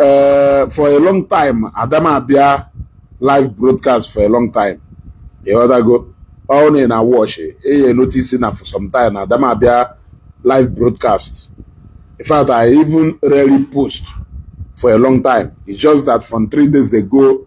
ee eh, for a long time adamabịa live broadcast for a long time ịghọtago ọ na na watch eyi notisi na for some time adamabịa live broadcast in fact i even rarely post for a long time it's just that from three days ago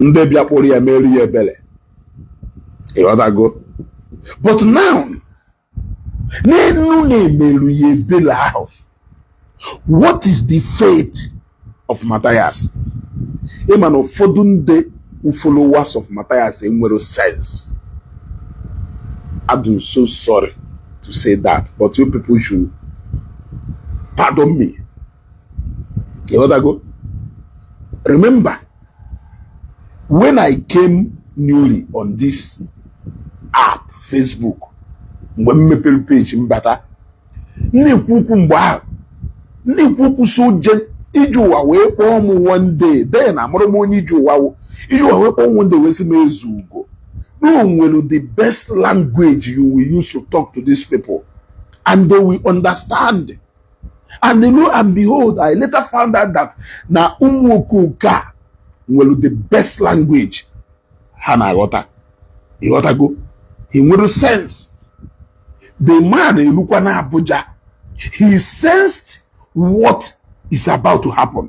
ndị bịa kpụrụ ya mere ya ebere ịghọtago but now n'enu na e meru ya ebere ahụ what is the fate of Matthias ị ma na ụfọdụ ndị followers of Matthias enwerọ sense adụ so sorry to say that but you people should pardon me ịghọtago remember when i came newly on this app facebook mgbe m mepere page m bata na-ekwu okwu mgbe ahụ na-ekwu okwu so je iji ụwa wee kpọọ m one day then amarọ m onye iji ụwa wụ iji ụwa wee kpọọ m one day wee sị m Ezeugo no nwere the best language you will use to talk to these people and they will understand and you know and behold i later found out that na ụmụ okoke a nwere the best language ha na-aghọta ịghọtago he nwere sense the man elukwa na abuja he sensed what is about to happen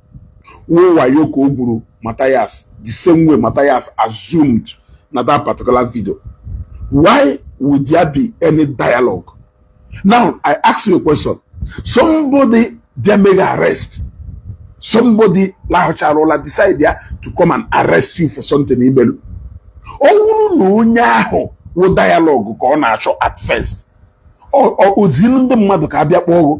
wụ wayo ka o gwuru Matthias the same way Matthias assumed na that particular video why would there be any dialogue now I ask you a question somebody bịa mee gị arrest somebody lahụcharụla decide ya to come and arrest you for something i melu ọ wụrụ na onye ahụ wụ dialogue ka ọ na-achọ at first o zinu ndị mmadụ ka a bịa kpọọ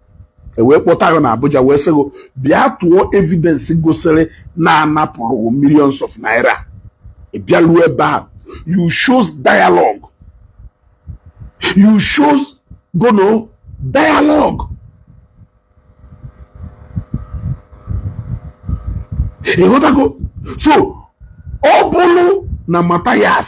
e wee kpọta gị na Abuja wee sị gị bịa tụọ evidence gosiri na a napụrụ millions of naira ị bịaruo ebe a you chose dialogue you chose gụnụ dialogue ịghọtago so ọ bụrụ na Matthias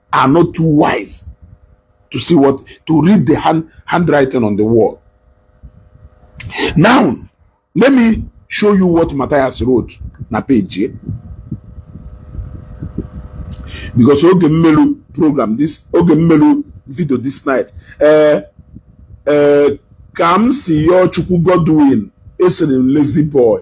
are not too wise to see what to read the hand handwriting on the wall. Now, let me show you what Matthias wrote na page. Eh? Because oge mmelu program this oge mmelu video this night. Uh, uh, ka m si yọọ Chukwu Godwin esiri m lazy boy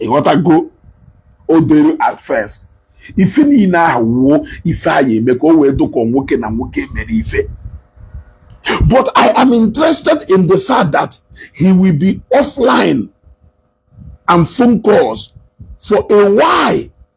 ịghọtago o dere at first ife niile ahụ wụ ife a ya-eme ka o wee dụ ka nwoke na nwoke mere ife but i am interested in the fact that he will be offline and phone calls for a while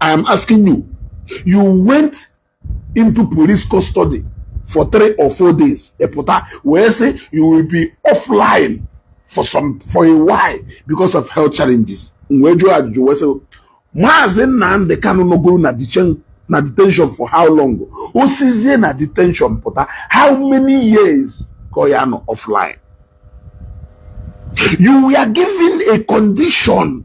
I am asking you. You went into police custody for three or four days. Epota, where say you will be offline for some for a while because of health challenges. Mwejo ajụjụ wee sị Maazị Nnamdi Kanu nọgoro na detention na detention for how long? O sizie na detention pụta how many years ka ọ ya nọ offline? You were given a condition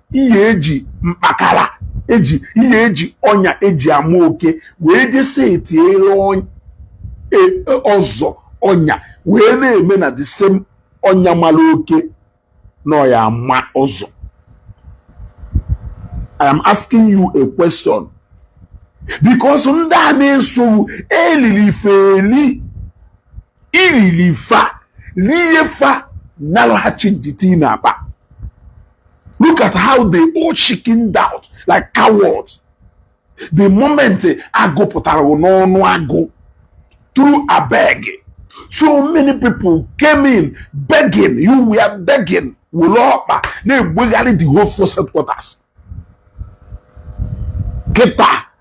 ihe e ji mkpakara e ji ihe e ji ọnya e ji ama oke wee je sietiela e, e, ọzọ ọnya wee na-eme na the same ọnya mara oke na ọ ya-ama ọzọ I am asking you a question because ndị a na-eso gị eliri ife eli irili fa rie fa na-alaghachi ndidi ị na-akpa look at how they all chickened out like cowards the moment agụ pụtara n'ọnụ agụ through abeg so many people came in begging you were begging were ọkpa na-egbegharị the whole force headquarters kịta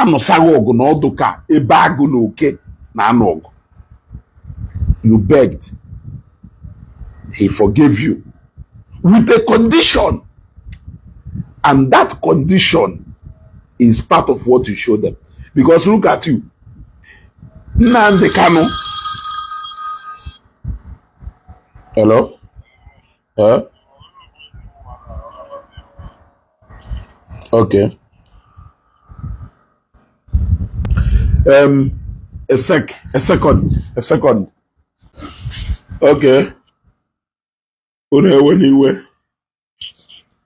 anụsa ghị ọgụ na ọ dụ ka ebe agụ na oke na-anụ ọgụ you begged he forgave you with a condition and that condition is part of what you show them because look at you Nnamdi Kanu hello Eh? Okay. Um, a sec, a second, a second. Okay. Unu ewe n'iwe.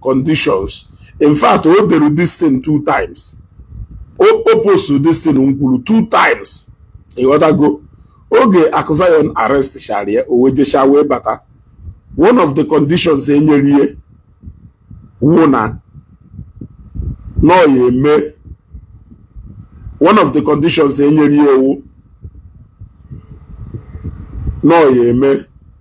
conditions in fact o dere this thing two times o postu this thing m kwuru two times ịghọtago oge Akụzion arrestshara ya o wee jesha wee bata one of the conditions e nyere ya wụ na na ọ ya eme one of the conditions e nyere ya wụ na ọ ya eme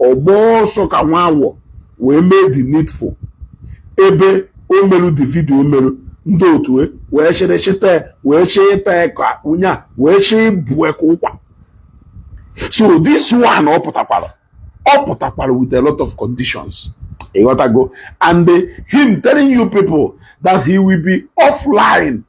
ọ gbaa ọsọ ka nwa awọ wee mee the needful ebe o meru the video o meru ndị otu e wee chịrị chịta ya wee chịrị ịta ya ka onye a wee chịrị ịbụ ya ka ụkwa so this one ọ pụtakwara ọ pụtakwara with a lot of conditions ịghọtago and him telling you people that he will be offline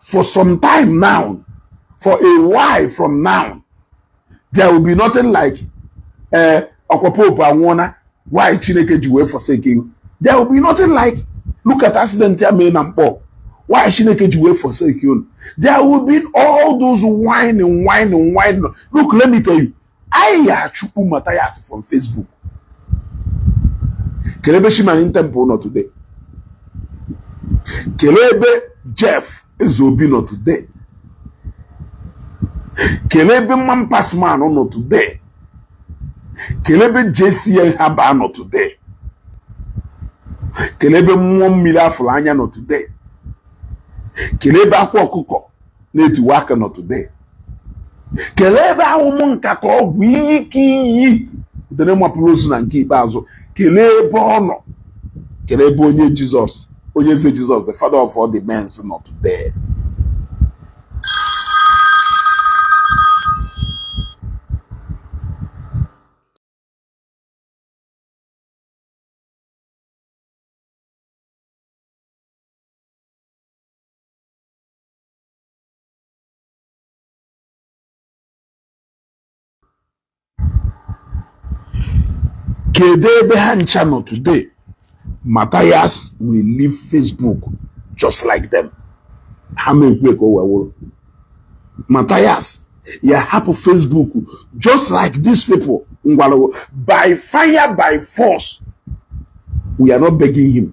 for some time now for a while from now there will be nothing like eh, ọkwa pope anwụọna why chineke ji wee forsake you there will be nothing like look at accident ya mee na mkpọ why chineke ji wee forsake you there will be all those whining whining whining look let me tell you anyị ya-achụpụ Matthias from Facebook kelee ebe Chi Marine Temple nọ today kelee ebe Jeff Ezeobi nọ today kelee ebe Man Pass Man nọ today kelee ebe JCN Herbal nọ today kelee ebe mmụọ mmili afụlụ anya nọ today kelee ebe akwa ọkụkọ na-etiwa akị nọ today kelee ebe ahụ m nka ka ọ bụ Eke Hit dere mapụrụ ozu na nke ikpeazụ kelee ebe ọ nọ kelee ebe onye Jesus Onyeze Jesus the father of all the men nọ today kedu ebe ha ncha nọ today Matthias will leave Facebook just like them ha ma ekwe ka o wee wụrụ Matthias ya-ahapụ Facebook just like these people ngwalụgo by fire by force we are not begging him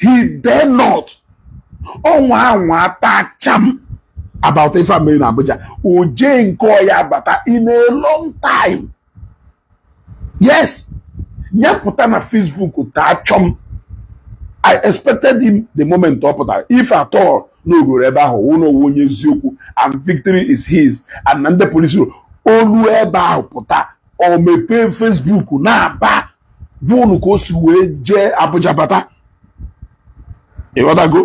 he dare not ọ nwa anwa ata chọm about ife a mere na Abuja o jee nke ọ ya bata in a long time yes ya pụta na Facebook taa chọm I expected him the moment ọ pụtara if at all na o garụ ebe ahụ wụ na ọ wụ onye eziokwu and victory is his and na ndị polisi o lu ebe ahụ pụta o mepee Facebook na-aba gwa unu ka o si wee jee Abuja bata ịghọtago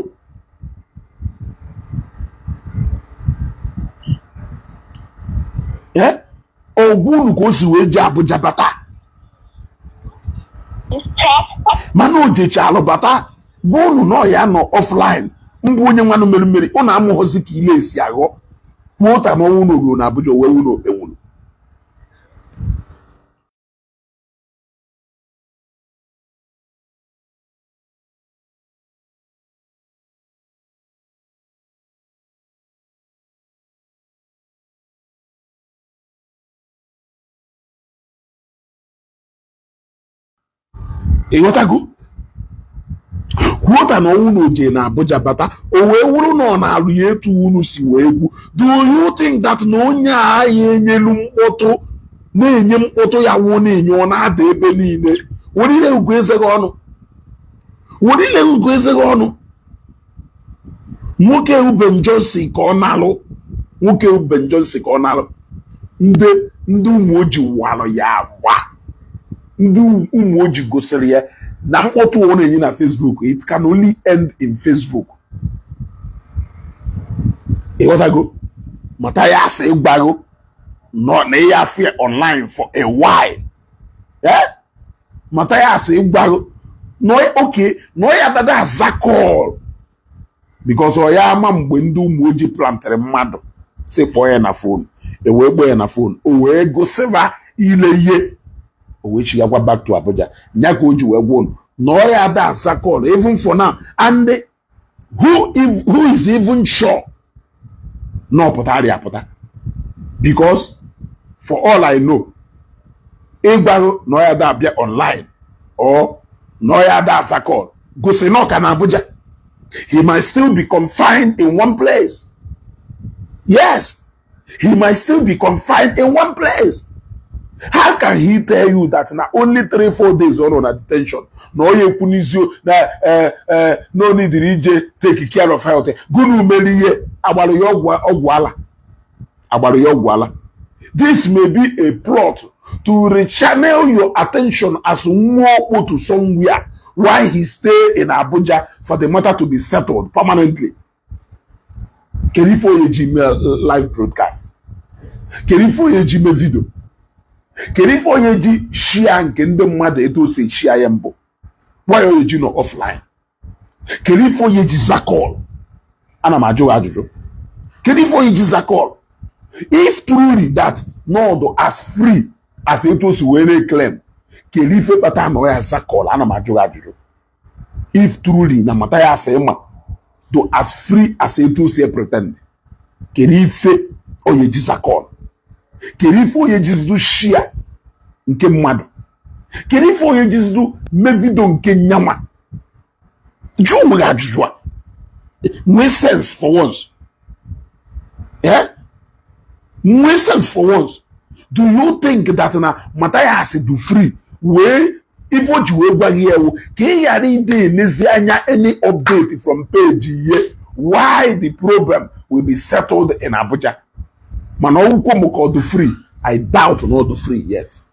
ee ọ gwa unu ka o si wee jee Abuja bata mana o jechalụ bata gwa unu na ọ ya-anọ offline mbụ onye nwanụ meri mmeri unu amụghọzi ka ile e si aghọ kwuota ma ọ wụ na o ruo na Abuja wee wuru okpenwuru ịghọtago kwuota na ọ wụ na o je na Abuja bata o wee wụrụ na ọ na-alụ ya etu unu si wee gwu do you think that na onye a ya enyelu mkpọtụ na-enye mkpọtụ ya wụ na-enye ọ na-ada ebe niile were ile gụọ eze gị ọnụ were ile gụọ eze gị ọnụ nwoke wụ Ben Johnson ka ọ na-alụ nwoke wụ Ben Johnson ka ọ na-alụ ndị ndị ụmụ oji walụ ya agba ndị ụmụ oji gosiri ya na mkpọtụ ọ na-enye na Facebook it can only end in Facebook ịghọtago Mathias ịgwa unu na ị ya afụ ya online for a while eh? Mathias ịgwa unu okay na ọ ya dada aza call because ọ ya ama mgbe ndị ụmụ ojii plantịrị mmadụ si kpọọ ya na phone e wee kpọọ ya na phone o wee gosịba ile ihe o wee chigakwa back to Abuja nya ka o ji wee gwa unu na ọ ya ada aza call even for now and who if who is even sure na ọ pụtarị apụta because for all i know ịgwa unu na ọ ya da abịa online or na ọ ya da aza call gosi na ọ ka nọ Abuja he might still be confined in one place yes he might still be confined in one place how can he tell you that na only three four days ọ nọ na detention na ọ ya ekwu n'izio na eh, eh, na o nidiri ije take care of health gụnụ mere ihe a gbara ya ọgwụ ala a gbara ya ọgwụ ala this may be a plot to rechannel your attention as nwa okpo to somewhere while he stay in Abuja for the matter to be settled permanently kedu ife onye ji mee live broadcast kedu ife onye ji mee vidio kedu ife onye ji shia nke ndị mmadụ etu o si eshia ya mbụ why onye ji nọ offline kedu ife onye ji za call ana m ajụ ajụjụ kedu ife onye ji za call if truly that na ọ dụ as free as etu o si wee na-eklem kedu ife kpata na ọ ya aza call ana m ajụ ajụjụ if truly na Mathias ị ma dụ as free as etu o si epretend kedu ife onye ji za call kedu ife onye jizidu shia nke mmadụ kedu ife onye jizidu mee vidio nke nyanwa jụọ onwe gị ajụjụ a nwee sense for once eh? nwee sense for once do you think that na Matthias dụ free wee ife o ji wee gwa gị ewu ka ị ghara ịdị elezi anya any update from page ihe why the problem will be settled in Abuja mana ọ dụkwọ m ka ọ dị free I doubt na ọ dị free yet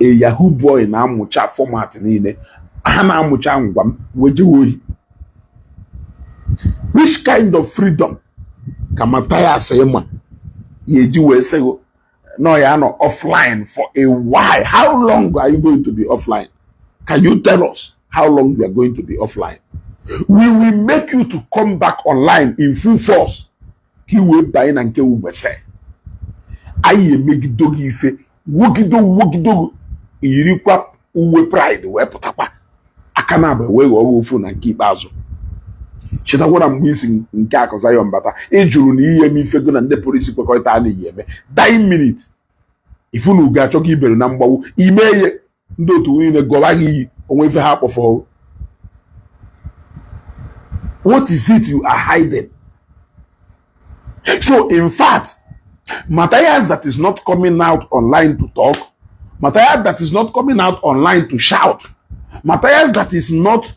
a yahoo boy na-amụcha fọmat niile ha na-amụcha ngwa ngwa ejewe ohi which kind of freedom ka Mathias ị ma ya eji wee sị gị na ọ ya anọ offline for a while how long are you going to be offline can you tell us how long you are going to be offline we will make you to come back online in full force ka i wee banye na nke ugbese anyị emegido gị ife wogido wogido yirikwa uwe praịd wee pụtakwa aka na-abụ e wee ghọọ ofu na nke ikpeazụ chetakwara mgbe isi nke akụ Zion mbata ị jụrụ na ị ya eme ife gị na ndị police kwekọrịta a na-eyi eme die minute ifunu ga-achọ ka ibere na mgbawu ime ihe ndị otu niile gọwa gị iyi o nwe ife ha kpọfọ what is it you are hiding so in fact Matthias that is not coming out online to talk Matthias that is not coming out online to shout Matthias that is not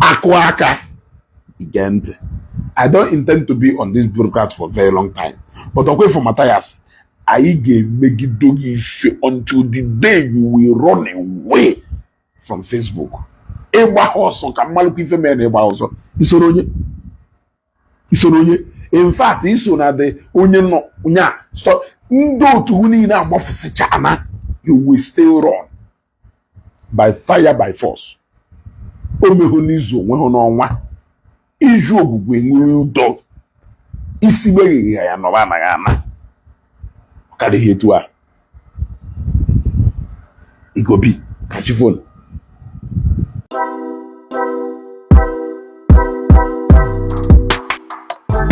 akụ aka again I don't intend to be on this broadcast for very long time but ọkwa ị fụ Matthias anyị ga-emegide gị ife until the day you will run away from Facebook ị gbaha ọsọ ka m malụkwa ife mere na ị gbaha ọsọ isoro onye isoro onye in fact i so na ndị onye nọ nya ndị otu niile agbafụsịchana you will still run by fire by force o mehụ n'izu o nwehụ n'ọnwa iju ogwugwu e nwere ụdọ isi gbeghịghị ya nọba anaghị ana karịghị etu a igobi ka chi fo nụ